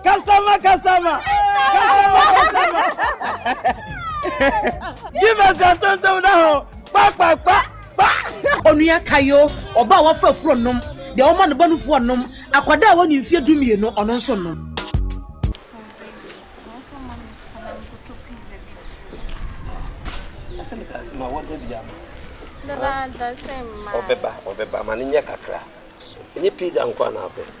Customer, customer. Customer, customer. Give us a ton ton now. Pa pa pa pa. Onua Kayo, ọba a wafa afuro nom, deɛ ɔma ne ba no fuo nom, akwadaa a wɔne mfie du mmienu, ɔno nso nom. Ɔbɛba, ɔbɛba, ma ne nyɛ kakra. Ɛnyɛ pizza nko a na apɛ.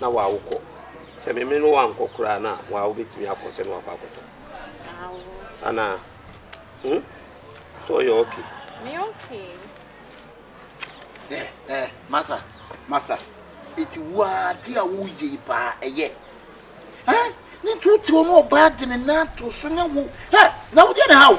na waa wo kɔ sɛ me me no waa nkɔ koraa na waa wo bɛtumi akɔ sɛ na wakɔ akɔtɔ anaa hmm? so ɔyɛ okay me okay eh eh masa masa eti waa ti a woyɛ yi paa ɛyɛ eh ne nti wotew no ɔbaa de ne nan to so ne wo eh na wodeɛ ne ha wo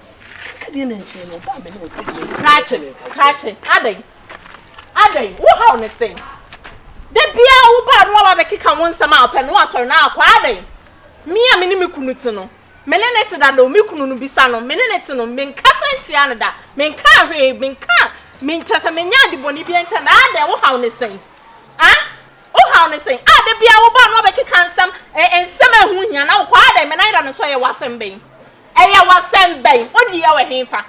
Ɛdeɛ ne nkyɛn no ɔbaa me ne ɔte deɛ ne Krakye krakye adɛn adɛn wo haw ne sɛn da biara wo baa no aba bɛkeka wo nsɛm a ɔpɛ no atɔre no akɔ adɛn me a me ne me kunu te no me ne ne te dada o me kunu no bisa no me ne ne te no menkasa ntia no da menka hwee menka menkyɛ sɛ menya adebɔne bi nkyɛ no adɛn wo haw ne sɛn a wo haw ne sɛn a da biara wo baa no abɛkeka nsɛm nsɛm a ɛho hia na wokɔ adɛn me nan da no nso yɛ w'asɛm bɛn Ɛyɛ wo asɛm bɛn? Wode yɛ wɔ hefa?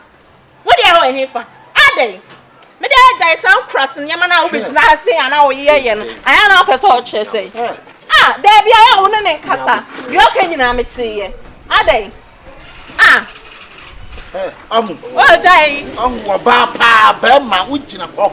Wode yɛ wɔ hefa? Adɛn? Me deɛ gyae saa nkurase nneɛma no a wobɛgyina ha sei anaa woyɛ yɛ no. Ayɛ na wopɛ sɛ ɔkyerɛ sɛ. Ah, daabi ayɛ a wo ne ne nkasa. Deɛ ɔka nyinaa meteeɛ. Adɛn? Ah. Ahu. Wogyae. Ahu ɔbaa paa bɛrima wogyina hɔ.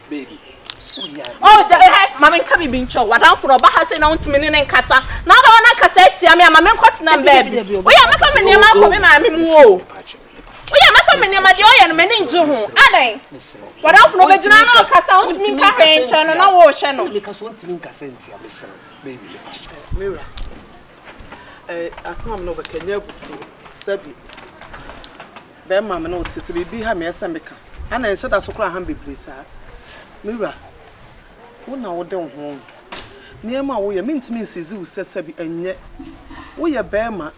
Baby, woyɛ adeɛ. Oh, da, eh, ma me nka biribi nkyɛw. W'adamfo no, ɔba ha sɛ na wontumi ne ne nkasa. Na aba hɔ na akasa atia me a, ma me nkɔtena me baabi. Woyɛ mɛfa me nneɛma akɔ me maame mu o. Woyɛ mɛfa me nneɛma deɛ ɔyɛ no m'ani ngye ho. Adɛn? W'adamfo no ɔbɛgyina na ɔkasa, wontumi nka hwee nkyɛn no na worehyɛ no. Meka so wontumi nkasa ntia me srɛ wo. Baby, me patch. Mewura, eh, asɛm a me na ɔbɛka nyɛ abufuo, sɛbi. Bɛma me na ɔte sɛ biribi ha me ɛsɛ meka ana ɛnhyɛ da so koraa ha me bebree saa me wura wo na wode wo ho ho nneɛma a woyɛ mentumi nsizi wo sɛ sɛbi ɛnyɛ woyɛ bɛma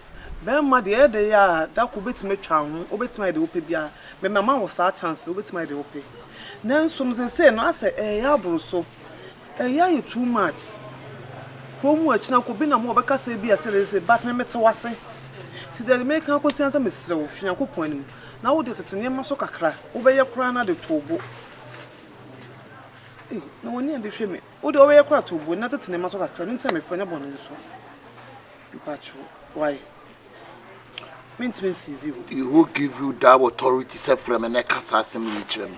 bɛma deɛ ɛyɛ de yɛ a da koro wobɛtumi atwa wo ho wobɛtumi ayɛ deɛ wopɛ biara me mama wo saa chance wobɛtumi ayɛ deɛ wopɛ nanso no sesei no asɛ ɛyɛ aboro so Ɛyɛ ayɛ too much kuro mu akyina kɔ bi nam hɔ ɔbɛka sɛ bi a sɛdeɛ sɛ but me mete wase nti deɛ meka akɔsi ansa mesrɛ wo fi Nyankopɔn anim na wo deɛ tete nneɛma so kakra wobɛyɛ koraa na de too bo ei na wani ade hwɛ me wo deɛ wobɛyɛ koraa too bo na tete nneɛma so kakra no nti na mefrɛ nyɛ bɔne nso mpakyɛw why mentumi nsizi hɔ. Who give you that authority sɛ frɛ me na ɛka saa asɛm wei kyerɛ me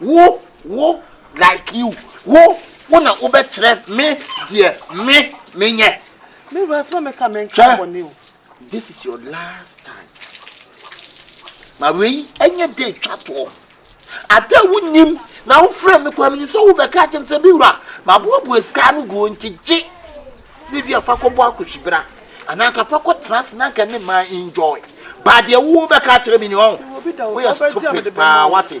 Wo, wo, like you, wo, wo na wobɛkyerɛ me deɛ me, menyɛ. Me wura sɛ mɛka mɛnka bɔne o. This is your last time. Ma wei ɛnyɛ de twa toɔ. Ade a wonim na wofrɛ me kɔ menim sɛ wobɛka akyɛm sɛ me wura maboaboa sika no guo nti gye ne bi afa kɔbɔ akɔhyibra anaa nka fa kɔtena ase na nka ne ma enjoy baadeɛ wobɛka akyerɛ me ni ɔn woyɛ stupid paa wate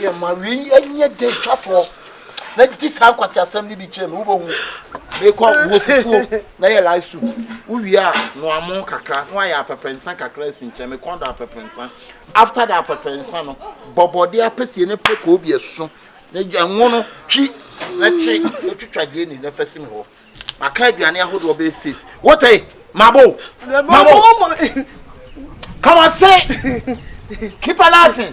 Yɛ ma wei ɛnyɛ dɛ twa toɔ na di saa nkwate asɛm no bi kyerɛ me wobɛhu mekɔ wo fufuo na yɛ live soup wowie a noamo kakra na wayɛ apɛprɛnsa kakra asi nkyerɛ me kɔn do apɛprɛnsa after the apɛprɛnsa no bɔbɔde apɛsie ne pɛ kɔɔ bi ɛso na ɛnwo no twi na kye na twitwa gyeeni na fa si me hɔ Maka aduane ahodoɔ bɛyɛ six. Wote? Mabo. Mabo. Come on, say. Keep on laughing.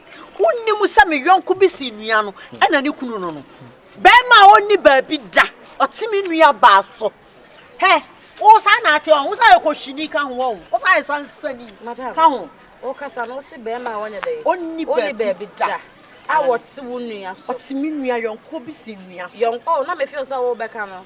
Wonnim sɛ me yɔnko bi sen nua no na ne kunu no no. Bɛrima a ɔnni baabi da, ɔte me nua baa so. Hɛ, wo saa na ate ɔn, wo saa yɛ kɔhyini ka ho ɔn, wo saa yɛ sansani ka ho. Wokasa no, wose bɛrima a ɔnyɛ dɛn? Ɔnni baabi da a ɔte wo nua so. Ɔte me nua yɔnko bi sen nua so. Yɔnko, na mefeel sɛ wobɛka no.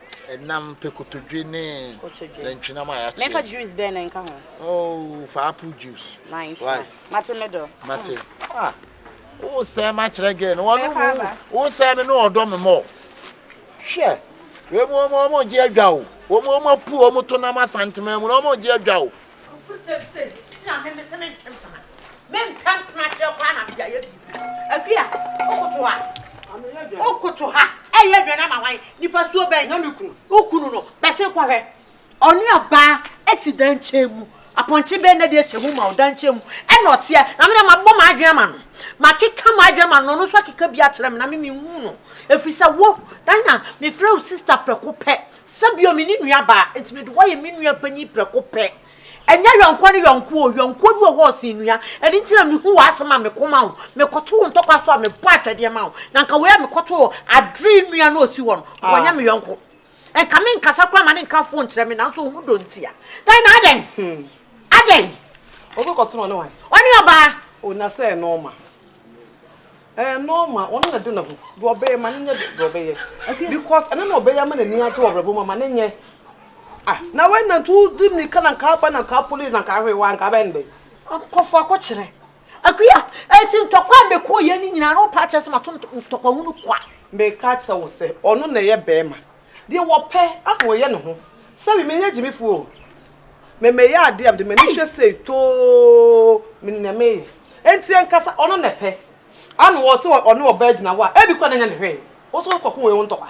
Ɛnam pɛ kotodwe ne nantwinam a yɛakyɛ. Mɛfa juice bɛn na nka ho? Oh, fa apple juice. Nice. Why? Mate me dɔ. Mate. Ah. Wo sɛ ma kyerɛ girl no. Wɔn mu wo sɛ me no ɔdɔ me mɔ. Hwɛ. Wɔn mu wɔn gye adwa o. Wɔn mu wɔn apu wɔn to nam asantema mu. Wɔn gye adwa o. Nokosɛm se nti na me mese mentwe mpena me mpɛ mpena kyerɛ koraa na mede ayɛ biribi Akua wokoto ha wokoto ha ɛyɛ aduane ama hwan nipa suo bɛn na me kunu wo kunu no bɛse kɔ hwɛ ɔne ɔbaa asi dan kyɛn mu apɔnkye bɛn na de ahyɛ mu ma wo dan kyɛn mu ɛna ɔteɛ na me na mabɔ m'adwene ama no makeka m'adwene ama no ɔno nso akeka bi akyerɛ me na me menhu no ɛfiri sɛ wo dan na mefrɛ wo sista prɛko pɛ Sɛ bio me ne nua baa, enti mede wo ayɛ me nua panyin prɛko pɛ. Ɛnyɛ yɔnkoa ne yɔnkoa oo, yɔnkoa bi wɔ hɔ a ɔsen nua. Ɛno nti na mihu w'asɛm a meko ma wo, mekɔto wo ntɔkwa so a mebɔ atwɛdeɛ ma wo. Na nka wei a mekɔto wɔ Adre nua no a ɔsi hɔ no, wanyɛ me yɔnko. Nka menkasa koraa ma no nka foo nkyerɛ me, nanso ɔhu dɔ ntia. Dɛn na adɛn? Adɛn? Ɔbɛkɔto no ɔne wan? Ɔne ɔbaa. O, na sɛ ɛnɔɔma. Ɛyɛ normal, ɔno na ɛde ne ho. Deɛ ɔbɛyɛ, ma no nyɛ deɛ ɔbɛyɛ. Okay. Because ɛno na ɔbɛyɛ ama n'ani agye wɔ abrabɔ mu, ma no nyɛ. Ah, na wei na nti wodi mmirika na nka aba na nka police na nka ahwee wa nka abɛn dɛn. Akɔfo akɔkyerɛ. Akuya, ɛti ntɔkwa a mekɔɔ yɛ ne nyinaa no paa kyerɛ sɛ mato ntɔkwa hunu kwa. Meka kyerɛ wo sɛ ɔno na ɛyɛ bɛrima. Deɛ wɔpɛ ana wɔyɛ ne ho. Sɛbi menyɛ gyimifoɔ o. Me meyɛ adeɛ a mede m'ani hwɛ sei too menim nea meyɛ. Enti ankasa ɔno na ɛpɛ. Ana ɔse ɔne ɔbaa agyina hɔ a ebi koraa na ɛnyɛ ne hwee. Wo nso wokɔ ko wei wo ntɔkwa.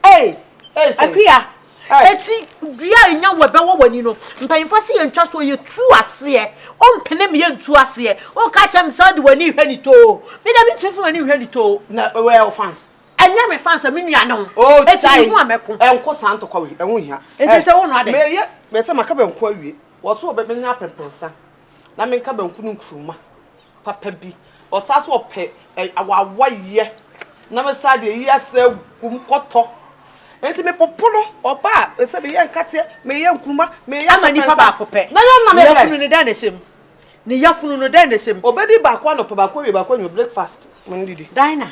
Ei! Ei sei. Akua, eti dua a enya wo ɛbɛwɔ w'ani no, mpanyinfoɔ se yɛntwa soɔ, yɛtu aseɛ, wompene me yɛntu aseɛ, woka kyerɛ me sɛ wode w'ani rehwɛ no too, me deɛ mentumi mfa m'ani nhwɛ no too. Na where are wo fans? Ɛnyɛ me fa sɛ me nua ne ho. Oh, Eti tai. mehu a mɛko. Ɛnko saa ntɔkwa wei, ɛho nhia. Nti Ɛ, sɛ wo noa dɛn? Meyɛ, meyɛ sɛ maka banku awie. Wɔso ɔbɛ, menya aprɛprɛnsa na menka banku no nkuruma papa bi. Ɔsaa so ɔpɛ ɛ, awawaeɛ na mesaa de ayi asaa agu mu, kɔtɔ. Nti mepopo no, ɔba a, ɛsɛ meyɛ nkateɛ, meyɛ nkuruma, meyɛ Ama nipa aprɛprɛnsa. baako pɛ. Na yɛ nna me Nua brɛ. kunu no dɛn na ɛhyɛ mu? Ne yafunu no, dɛn na ɛhyɛ mu? Ɔbɛdi baako anɔpa, baako awia, baako anwummerɛ, breakfast. Ma no didi. Dinah,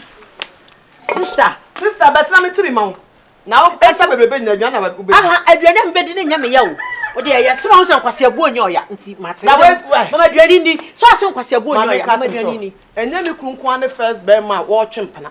Sister. Sister, bɛtena me tiri ma wo. Na wo kasa bebrebe nyinaa, aduane na wobɛdi. Aha, aduane a mebɛdi no nyɛ me ya o. Wo deɛ ɛyɛ, sɛ woahu sɛ nkwaseabuo nyɛ ɔya, nti mate. Na wei, wai. Mama aduane nni. Sɛ woahu sɛ nkwaseabuo nyɛ ɔya, mama aduane nni. Ɛnyɛ me kuru nko ara ne first bɛrima a ɔretwe mpena.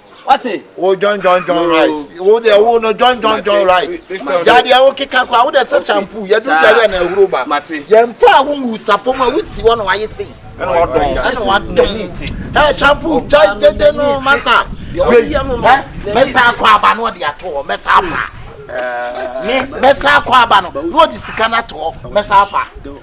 Wate? Wo John John John Rice. Wo de wo no John John John Rice. Ya de wo keka kwa wo de se shampoo ya du dare na ehuru ba. Ya mfa wo ngu sapo ma wo si wo no aye se. Ana wa don. Ana wa don. Eh shampoo jai tete no masa. Wei. Eh mesa akọ aba no de ato ho mesa afa. Me mesa akọ aba no no de sika na to mesa afa.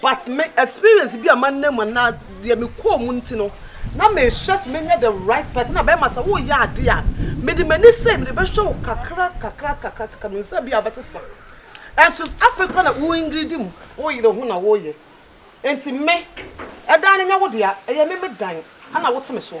But me experience bi a manam anaa deɛ me kɔɔ mu nti no, na me hwɛ sɛ mɛnya the right person. Ɛna bɛɛma sɛ wo yɛ adeɛ a, me de m'ani sei me de bɛhwɛ wo kakra kakra kakra kakra, me nim sɛ ebia wobɛsesa. Ɛnso afei koraa na wo ingiridi mu, wo yere ho na wo yɛ. Nti me, ɛdan no nyɛ wo dea, ɛyɛ me me dan, ɛna wo te me so.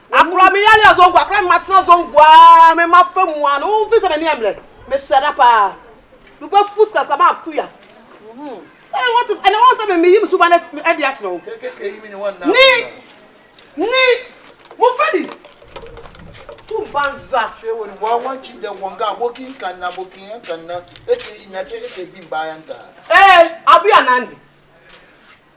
Akora me yare yɛ zongo akora me ma tena zongo aa me ma fa mu aa na wo fi sɛ m'ani ɛmmerɛ me hyɛ da paa me bɛ fu sika sama akuya sɛ ne wɔte ɛne wɔn sɛ me me yi me suba ne ɛde akyerɛ wo ni ni mo fɛ di tum banza hwɛ wɔn wɔn wɔn kyi dɛ wɔn ga wɔki nkan na wɔki nkan na ɛte yi na ɛte ɛte bi mbaa ya ntaa ɛɛ abu ya nani.